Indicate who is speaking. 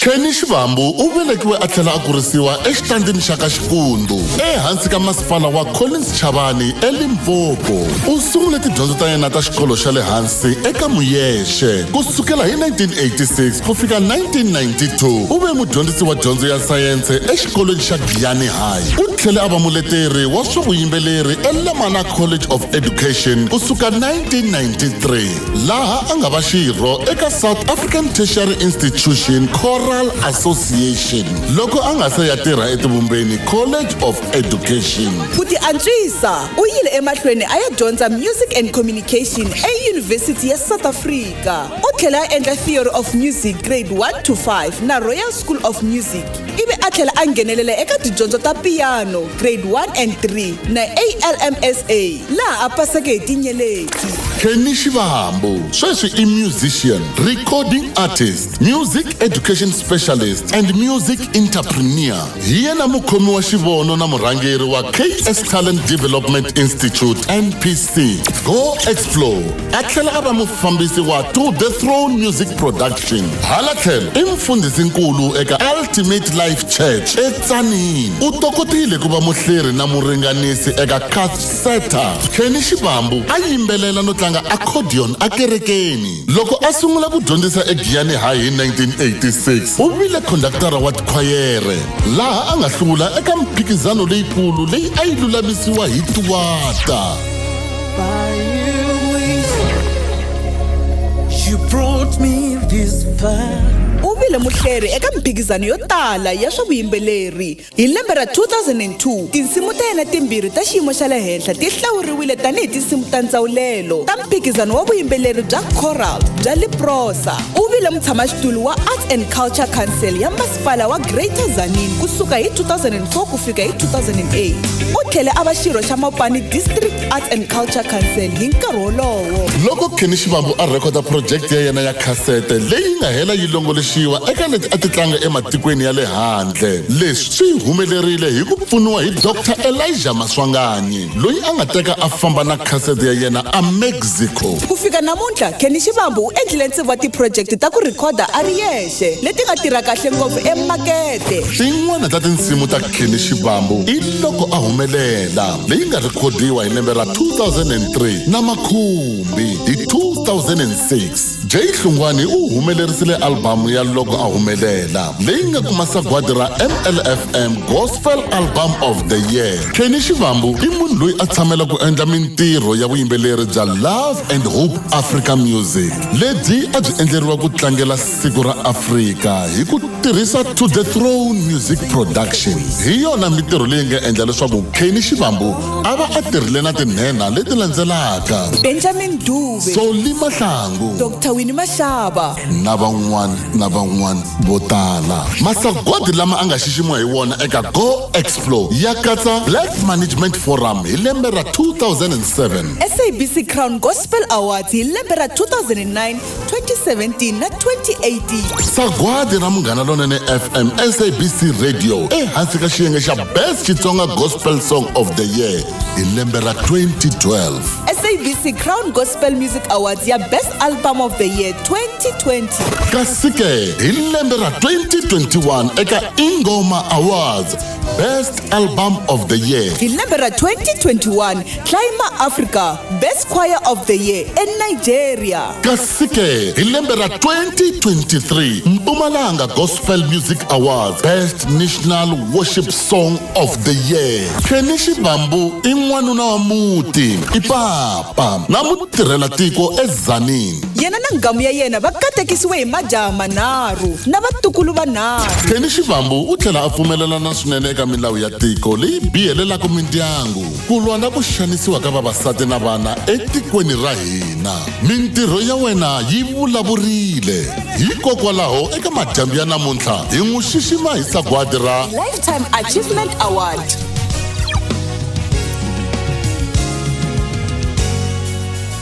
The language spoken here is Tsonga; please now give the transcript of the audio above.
Speaker 1: Kenny Xivambu u velekiwe a tlhela a kurisiwa exitandini xa ka Xikundu ehansi ka masipala wa Collins Chavani eLimpopo. U sungule tidyondzo ta yena ta xikolo xa le hansi eka Muyexe. Ku sukela hi 1986 ku fika 1992 u ve mudyondzisi wa dyondzo ya sayense exikolweni xa Giyani High. U tlhele a va muleteri wa swa vuyimbeleri eLemana College of Education ku suka 1993. laha a nga va xirho eka south african tertiary institution choral association loko a nga se ya tirha etivumbeni college of education ku ti antswisa
Speaker 2: u yile emahlweni a ya dyondza music and communication eyunivhesiti ya south africa u tlhela a endla theory of music grade 1 to 5 na royal school of music ivi a tlhela a nghenelela eka tidyondzo ta piano grade 1 and 3 na almsa laha a paseke hi tinyeleti kenny
Speaker 1: xivambu sweswi i musician recording artist music education specialist and music entrepreneur hi yena mukhomi wa xivono na murhangeri wa ks talent development institute npc go explore a tlhela a va mufambisi wa to the throne music production hala tlhelo i mfundhisinkulu eka ultimate life church etsanini u tokotile ku va muhleri na muringanisi eka cathseta kenny xivambu a yimbelela no tlanga accordion ekerekeni loko a sungula ku dyondzisa egiyani high hi 1986 u vile khondaktara wa tikhwayere laha a nga hlula eka mphikizano leyikulu leyi a yi lulamisiwa hi tiwata
Speaker 3: u vile muhleri
Speaker 2: eka mphikizano yo tala ya swa vuyimbeleri hi lembe ra 2002 tinsimu ta yena timbirhi ta xiyimo xa le henhla ti hlawuriwile tanihi tinsimu ta ndzawulelo ta mphikizano wa vuyimbeleri bya coral bya liprosa u vile mutshamaxitulu wa arts and culture council ya masipala wa greater zanin ku suka hi 2004 ku fika hi 2008 u tlhele a va xirho xa mopani district arts and culture council hi nkarhi wolowo loko kenny xivambu
Speaker 1: a rhekhoda phurojekiti ya yena ya khasete leyi nga hela yi longoloxiwa eka leti a ti tlanga ematikweni ya le handle leswi swi humelerile hi ku pfuniwa hi dr elija maswanganyi loyi a nga teka a famba na khasete ya yena a mexico ku fika namuntlha
Speaker 2: kenny xivambu u endlile ntsevu wa tiphurojekiti ta ku rhikhoda a ri yexe leti nga tirha kahle ngopfu emakete xin'wana ta
Speaker 1: tinsimu ta khini xivambu i loko a humelela leyi nga rhikhodiwa hi lembe ra 2003 na makhumbi hi 2006 jay hlungwani u humelerisile albhamu ya loko a humelela leyi nga kuma sagwadi ra mlfm gospel album of the year khini xivambu i munhu loyi a tshamela ku endla mintirho ya vuyimbeleri bya love and hope africa music lebyi a byi endleriwa ku tlangela siku ra afrika hi ku tirhisa to the throne music production hi yona mintirho leyi nga endla leswaku keni xivambu a va a tirhile na tinhenha leti landzelaka benjamin dube
Speaker 2: soli mahlangu
Speaker 1: dr wini maxava
Speaker 2: na van'wana
Speaker 1: na van'wana vo tala masagwadi lama a nga xiximiwa hi wona eka go explore ya katsa black management forum hi lembe ra 2007 sabc crown
Speaker 2: gospel Gospel Awards hi lembe ra 2009, 2017 na 2018. sagwadi ra
Speaker 1: munghana lonene fm sabc radio ehansi ka xiyenge xa best xitsonga gospel song of the year hi lembe ra 2012 SABC
Speaker 2: Crown Gospel Music Awards ya Best Album of the Year 2020. kasi ke
Speaker 1: hi lembe ra 2021 eka ingoma awards best album of the year Hi lembe ra
Speaker 2: 2021, Climber Africa Best Choir of the Year eNigeria. kasi-ke
Speaker 1: hi lembe ra 2023 mpumalanga gospel music awards best national worship song of the year kenny xibambu i n'wanuna wa muti i papa na mutirhela tiko ezanini Yena na ngamu ya
Speaker 2: yena va katekisiwe hi majaha manharhu na vatukulu vanharhu. kenny xibambu u
Speaker 1: tlhela a pfumelelana swinene eka milawu ya tiko leyi biyelelaka mindyangu ku lwa na ku xanisiwa ka vavasati na vana etikweni ra hina mintirho ya wena yi vulavurile hikokwalaho eka madyambu ya namuntlha hi n'wi xixima hi sagwadi ra lifetime achievement award